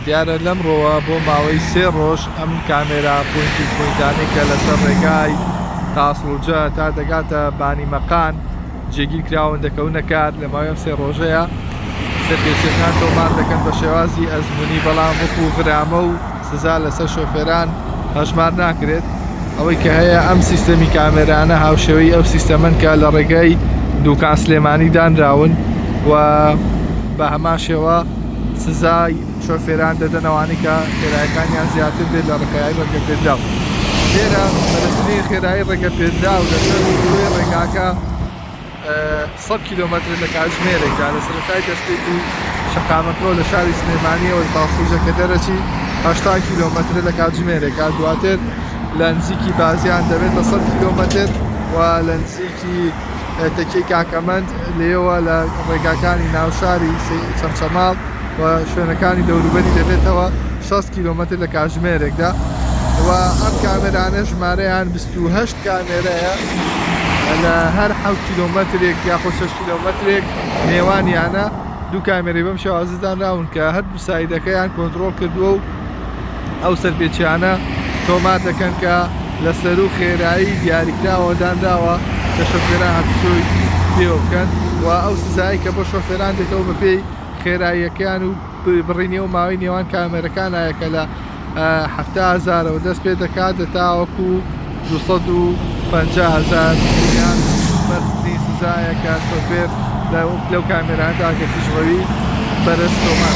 دیارە لەمڕۆوە بۆ ماوەی سێ ڕۆژ ئەم کامێرا پۆینتی پۆینتانەی کە لەسەر ڕێگای تاسڵجە تا دەگاتە بانی مەقان جێگیر کراون دەکەونە کار لە ماوەی ئەم سێ ڕۆژەیە سەرپێچیەکان تۆمار دەکەن بە شێوازی ئەزمونی بەڵام وەکو غرامە و سزا لەسەر شۆفێران هەژمار ناکرێت ئەوەی کە هەیە ئەم سیستەمی کامێرانە هاوشێوەی ئەو سیستەمەن کە لە ڕێگای دووکان سلێمانی دانراون و بە هەمان شێوە سزای شۆفێران دەدەن ئەوانەی کە خێرایەکانیان زیاتر بێت لە ڕێکای ڕێگەپێدراو لێرە بەرزترین خێرایی ڕێگەپێدراو لەسەر دووی ڕێگاکە 100 کیلومتر لە کاتژمێرێکدا لە سەرەتای دەستپێکی شەقامەکەەوە لە شاری سلێمانیەوەی پاسوژەکە دەرەچی 80 کیلومتر لە کاتژمێرێکا دواتر لە نزیکی بازیان دەبێتە 100 کیلومتر و لە نزیکی تەکیەی کاکەمەند لێیەوە لە ڕێگاکانی ناوشاری چەمچەماڵ و شوێنەکانی دەوروبەری دەبێتەوە 6 کیلومتر لە کاژمێرێکدا و ئەم کامێرانە ژمارەیان 28 کامێرەیە لە هەر ح کیلومترێک یاخۆ 6 کیلومترێک نێوانیانە دوو کامێری بەم شێوازدانراون کە هەر سایدەکەیان کۆنترۆڵ کردووە و ئەو سەرپێچیانە تۆمار دەکەن کە لە سەروو خێرایی دیاریکراوەوە دانراوە کە شۆفێران هاتووچۆی پێوە بکەن و ئەو سزایەی کە بۆ شۆفێران دێتەوە بەپێی خێراییەکەیان و بڕینی و ماوەی نێوان کامێرەکانایە کە لە حەفتا هەزارەوە دەست پێ دەکات لە تاوەکو 250 هزار ریال بەرزترین سزایە کە شۆفێر لەو کامێرانەدا کە تیژڕەوی بەرز تۆمار